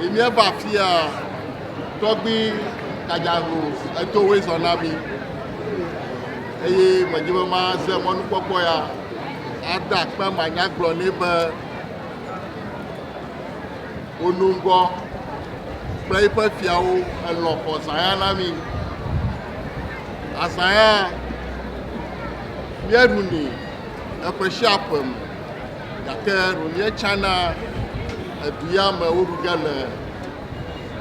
yi míeva afia tɔgbi kadzaho etowoe zɔ na mi eye medi be maze mɔnukpɔkpɔ ya ada akpe manya gblɔ nɛ be wonu ŋgɔ kple eƒe fiawo elɔ xɔ zãya na mi azãya míeɖunɛ eƒe sia ƒe me Gake Romie tsã na edu ya me woɖu ge le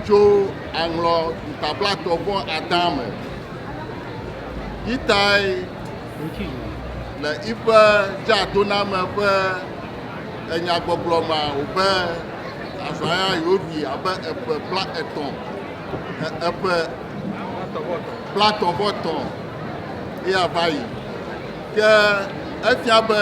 tso aŋlɔ ŋta blatɔ vɔ adã me. Yi tae le iƒe dzeadoname ƒe enyagbɔgblɔ mea wobe azãya yewoɖui abe eƒe bla etɔ e eƒe blatɔ vɔ tɔ eya va yi. Ke efia be.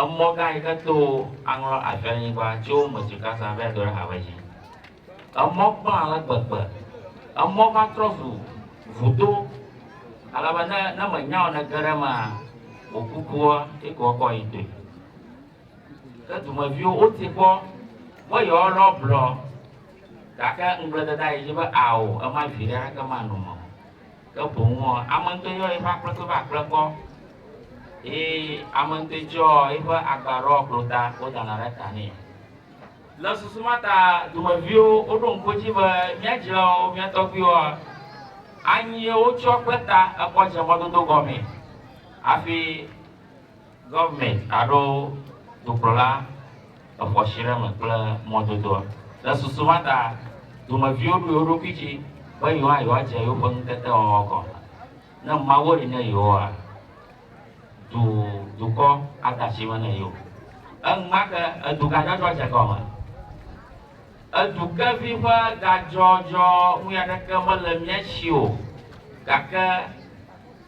Emɔ gã yi ke to aŋlɔ aviɔlinyigba tso wo me tso Gaza va yi do ɖe ha ƒe dzi. Emɔ kpla ale gbegbe. Emɔ va trɔ zu vudo ale be ne ne mènya o ne ege ɖe emea, wò kukua ye ke woakɔ ayi toe. Ke dumeviwo woti kpɔ be yewoalɔ blɔ gake ŋugble dede ayi dzi be ao ema viɖe aɖeke manɔ eme o. Ke boŋ ɔ, ame ŋtɔ́ yɔ eƒe akplekpe va kple kɔ, eye ame ŋtɔ́e tsɔ eƒe agba ɖɔ klota wodana ɖe ta nɛ. Le susu ma ta dumeviwo woɖo ŋku edzi be mía dzilawo, mía tɔgbuiwoa, anyi ye wotsɔ kple ta ekɔ dze mɔdodo gɔmee hafi. Gɔvemɛnt aɖo dukplɔla exɔ si ɖe me kple mɔdodoa. Le susu ma ta, dumeviwo ɖoe wo ɖokui dzi be yewoa yewoadze yewoƒe ŋutetewɔwɔ gɔ̃ hã. Ne Mawu li ne yewoa, du dukɔ ade asi me ne yewo. Enumake edu gadzɔdzɔ dze gɔme. Edu kevi ƒe gadzɔdzɔ ŋui aɖeke mele mía si o gake.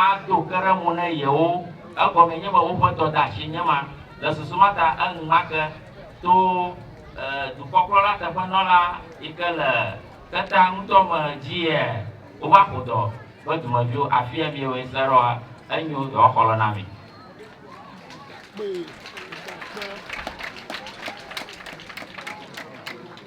Ado ke ɖe ŋu ne yewo, egɔmee nye be woƒe dɔdeasie nye ma. Le susu ma ta, enumake to dukɔkplɔla teƒenɔla yi ke le xexea ŋutɔ me dzia wova ƒo dɔ be dumeviwo, afia miewoe se ɖɔa, enyo yewoaxɔ lɔ na mi.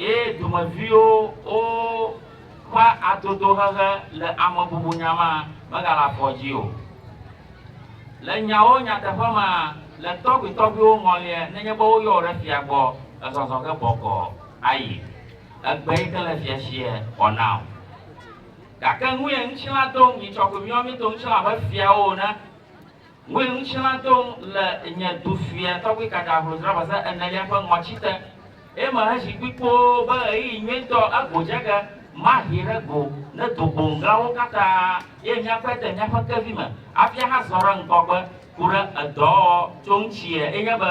Ye domeviwo wo ƒe adodohehe le amebubunya mea megale afɔ dzi o. Le nyawo nyateƒe mea, le tɔgbuitɔgbuiwo ŋɔlie nenye be woyɔ wò ɖe fia gbɔ, èzɔzɔ ge bɔkɔ ayi. Egbe yi ke le fia sie wɔ na wò. Gake nuye ŋutilã do ŋunyitsɔkoemiɔmi do ŋutilã abe fiawo ene. Ŋue ŋutilã do le nye du fia tɔgbi kaka hlodzra va se enelia ƒe ŋɔtsi te, eye meheʒi kpui kpoo be ɣeyiɣi nyuitɔ ego dze ge, mahi ɖe go ne do gboŋglawo katã, ye míakpe de míaƒe kevi me hafi ahazɔ ɖe ŋgɔgbe ku ɖe edɔwɔwɔ tso ŋuti ye, enye be,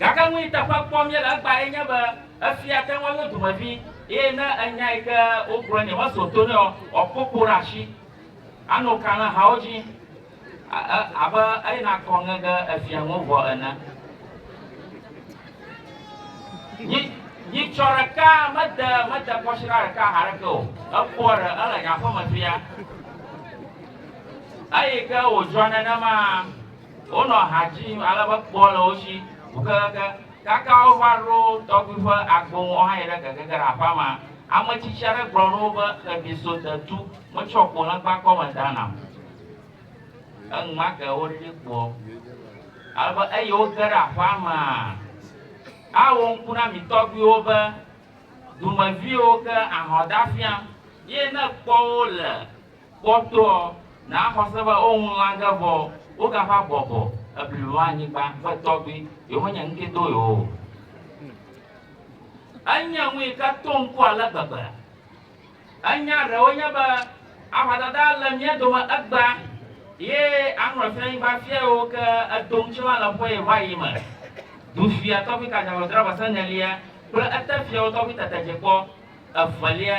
Gake nu yi teƒe kpɔm míele egbea ye nye be efia ate ŋu ayo dumevi eye ne enya yi ke wogblɔ nɛ meso to nɛ o, wòakpɔ kpo ɖe asi, ano ka le hawo dzi abe eyina akɔ ŋe ɖe efia ŋu vɔ ene. Nyi, nyitsɔ ɖeka mede mede kɔsiɖa ɖeka haɖe ke o. Ekpɔ ɖe ele nye aƒeme fia. Eyi ke wòdzɔ nenema. Wonɔ ha dzim ale be kpɔ le wo si ŋu kekeake kaka wova ɖo tɔgbui ƒe agbo ŋu. Wohae ɖe keke ge ɖe aƒea me. Ame tsitsi aɖe gblɔ ɖo wo be, Xevi so detu metsɔ kpo legba kɔme da nam. Enumake woɖiɖi kpoɔ ale be eyi woge ɖe aƒea mea, awo ŋku na mi tɔgbuiwo be, Dumeviwo ke ahɔ̃ da fiam, ye ne ekpɔ wo le Kpɔtɔɔ, naa xɔse be woŋu lã ge vɔ wogava bɔbɔ eblibo anyigba be tɔgbi yewonye ŋkee do yewo o. Enye nu yi ke to ŋku ale gbegbe. Enya ɖewo nye be ahɔdada le mía dome egbea ye aŋlɔfianyigba fia yiwo ke edo ŋuti la le ƒe vaɣi me. Dufia tɔgbi Kajavɔ Draba Senelia kple etefiawo tɔgbi Tetedjekpɔ evelia,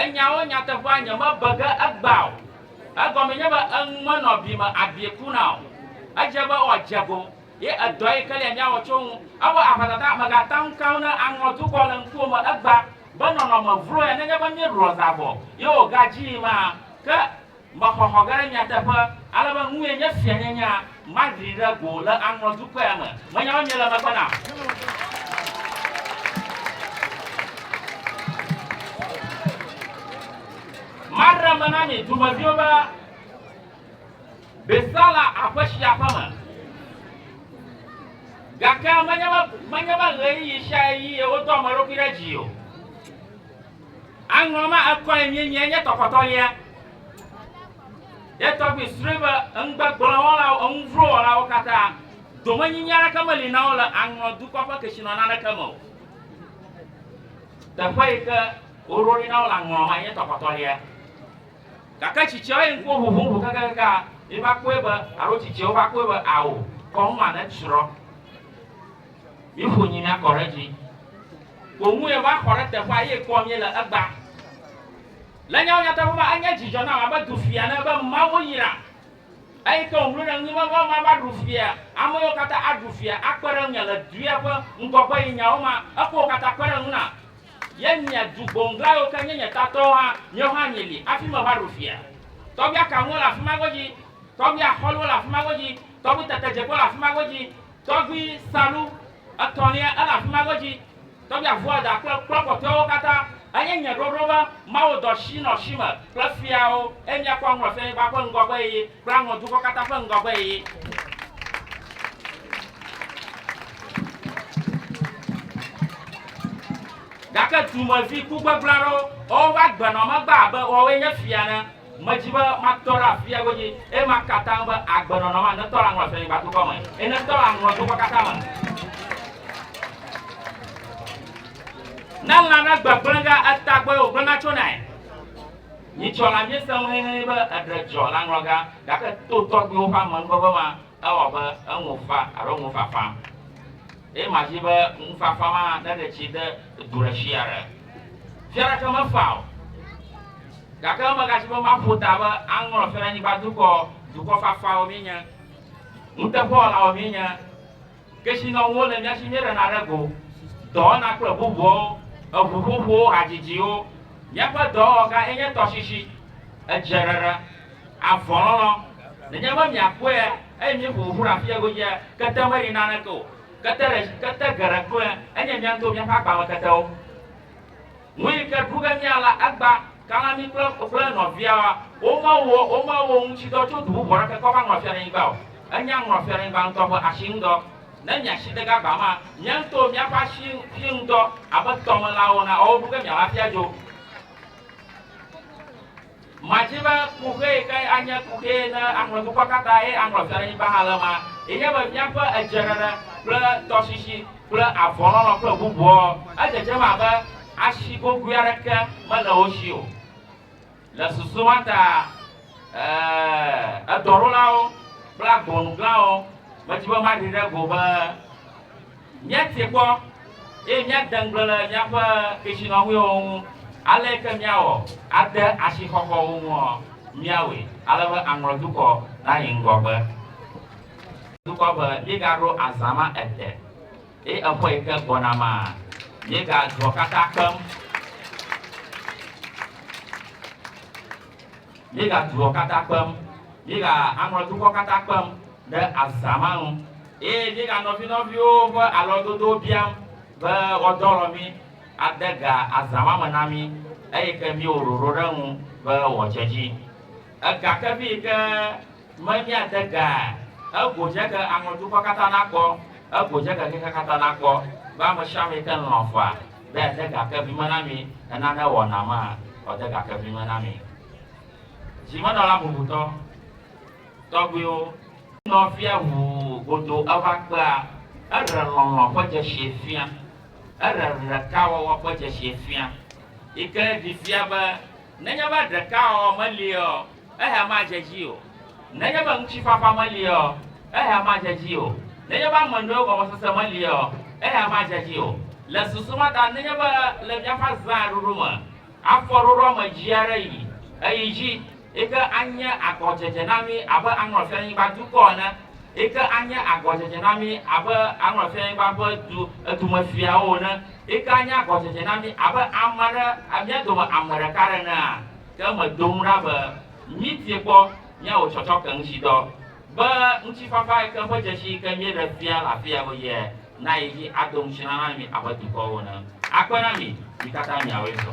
Enyawo nyateƒea nyemebe ge egbea o. Egɔme nye be enu menɔ bi me abie kuna o. Edze be wòadze go, ye edɔ yi ke lia míawɔ tso eŋu. Eƒe aʋatata megata ŋu keŋ ne aŋɔ dukɔ le ŋkuwo me egbea be nɔnɔme vlo ya nenye be míeɖua zã vɔ ye wògadzii ma. Ke Mexɔxɔ ge ɖe nyateƒe ale be nue nye fianyanya madri ɖe go le aŋlɔ dukɔe a me. Menya be miele megbe nam. Madre me na mi dumeviwo be Besala aƒe si aƒe me. Gake menye be menye be ɣeyiɣi sia ɣeyiɣi wodɔ ame ɖokui ɖe dzi o. Aŋlɔ ma ekɔe mienye nye tɔkɔtɔ lia. Ye tɔgbi srɔe be enugbegblẽ wɔlawo, enu vlo wɔlawo katã, domenyinyi aɖeke meli na wo le aŋlɔ dukɔ ƒe ketsinɔna aɖeke me o. Teƒe yi ke woɖo ɖi na wo le aŋlɔ ma nye tɔkɔtɔ lia. Gake tsitsiawo yi ŋkuwo ʋuʋum ʋu kekekekaa mi va kpɔe be, alo tsitsiawo va kpɔe be, ao, kɔnu ma netsrɔ. Mi ƒo nyi na kɔ ɖe dzi. Wò ŋue va xɔ ɖe teƒea eye kpɔ mi le egba. Le nyawo nyateƒe me enye dzidzɔ nam abe du fia ne be Mawu yra eyi ke wòŋlo ɖe ŋu be be mava ɖu fia. Ame yiwo katã aɖu fia akpe ɖe ŋunye le dua ƒe ŋgɔgbe yi nyawo ma ekɔ wo katã kpe ɖe ŋu na ye nye du gboŋgla yiwo ke nye nye tatɔwo hã miwo hã mieli afi meva ɖu fia. Tɔgbi akanuwo le afi ma godzi. Tɔgbi axɔliwo le afi ma godzi. Tɔgbi tetedzekpewo le afi ma godzi. Tɔgbui salu etɔ̃lia ele afi ma godzi. Tɔgbui Avuada kple kplɔ̃ kpɔtɔewo katã. Enye nye ɖoɖo be Mawu dɔ shi nɔ shi me kple fiawo, eye míakpɔ aŋlɔ fianyigba ƒe ŋgɔgbeɣi kple aŋlɔ dukɔ katã ƒe ŋgɔgbeɣi. Gake dumevi ku gbegblẽ aɖewo, woƒe agbenɔmegbe abe woawoe nye fia ene. Medi be matɔ ɖe afia godzi, eye maka atam be agbenɔnɔm ane tɔ le aŋlɔ si anyigba dukɔ me, eye netɔ le aŋlɔ dukɔ katã me. Ne lã ɖe gbegblẽ ge etagbɔe wògblẽ natsonae. Nyitsɔla míese ŋu hɛhɛhɛ be eɖe dzɔ le aŋlɔ gã, gake to tɔgbuiwo ƒe amenuveve ma, Ewɔ abe eŋu fa alo ŋu fafa. Eye madi be ŋu fafa ma neɖe tsi de du ɖe fia aɖe. Fia aɖeke mefa o. Gake megadi be maƒo ta be aŋlɔ Fiaɖenyigba dukɔ, dukɔ fafawo míenye, nuteƒewɔlawo míenye, kesinɔnuwo le nya si míeɖena ɖe go, dɔwɔna kple bubuawo, eŋuƒoƒowo, hadzidziwo. Míaƒe dɔwɔwɔga enye tɔsisi, edzrere, avɔlɔlɔ. Nenye be miakpɔea eye míeƒo ƒoƒu ɖe afi sia godzia, kete meɖi naneke o. Kete ɖe, kete geɖe kloe enye mía ŋutɔwo míaƒe agbame ketewo. Nu yi ke ɖu ge mía la agba, kana mí kple wò kple nɔviawoa womewɔ womewɔ ŋutsidɔ tso du bubu aɖeke kɔ va ŋlɔ fiaɖenyigba o. Enya ŋlɔ fiaɖenyigba ŋutɔ ƒe asi ŋudɔ. Ne miasi de gagba ma, mía ŋutɔwo míaƒe asi fi ŋudɔ abe tɔmelãwo ene, ewɔ ɖu ge mía la fia dzo. Madi be kuxi kae anye kuxi ne aŋlɔ dukɔ katã eye aŋlɔ fiaɖenyigba hã le ema. Enye be míaƒe edzeɖeɖe kple tɔsisi kple avɔlɔlɔ kple bubuawo, edzedzem abe asi gogoe aɖeke mele wo si o. Le susu ma ta, ɛɛ, edɔɖolawo kple agbonuglãwo medi be maɖi ɖe go be, Míatie kpɔ, eye míade ŋugble le míaƒe kesinɔnuiwo ŋu. Aleke ke míawɔ ade asixɔxɔ wo ŋuɔ? Míawɔe ale be aŋlɔ dukɔ nayi ŋgɔgbe. Dukɔ be míegaɖo azã ma ete, eye eƒe yi ke gbɔna ma, míegadzuɔ katã kpem. Míega duɔ kata kpem, míega aŋlɔ dukɔ kata kpem ɖe azã ma nu, eye míega nɔvi nɔviwo ƒe alɔdodowo biam be woadɔlɔ mí ade ga azã ma me na mí, eyi ke míewɔ ɖoɖo ɖe eŋu be woadze edzi. Ega kevi yi ke me míade ga ego dze ke aŋlɔ dukɔ kata nakpɔ, ego dze ke xexea kata nakpɔ be amesiame yi ke lɔ̃ faa. Be yeade ga ke vi me na mi, ne nane wɔ Naama, wòade ga ke vi me na mi. Dzimenɔla bubutɔ tɔgbuiwo. Nɔvia wu godo eva kpea eɖe lɔlɔ̃ ƒe dzesie fia, eɖe ɖekawɔwɔ ƒe dzesie fia, yi ke ɖi fia be nenye be ɖekawɔwɔ meliea, Eya madze edzi o. Nenye be ŋutifafa melie ɔ, eya madze edzi o. Nenye be ame nyuiwo gɔmesese melie ɔ, eya madze edzi o. Le susu ma ta, nenye be le míaƒe azãa ɖuɖu me, afɔ ɖoɖo ame dzi aɖe yi eyi dzi yi ke anye agɔdzedze na mí abe aŋlɔ fianyigba dukɔ ene, yi ke anye agɔdzedze na mí abe aŋlɔ fianyigba ƒe du edumefiawo ene, yi ke anye agɔdzedze na mí abe ame ɖe, mía dome ame ɖeka ɖe enea? Ke medo ŋu ɖa be míetie kpɔ míawɔ tsɔtsɔke ŋutsidɔ be ŋutifafa yi ke ƒe dzesi yi ke míeɖe fia le afia ɣeyiɣia nayi edzi ado ŋuti na na mí abe dukɔwo ene. Akpe na mí, mí katã míawɔe sɔ.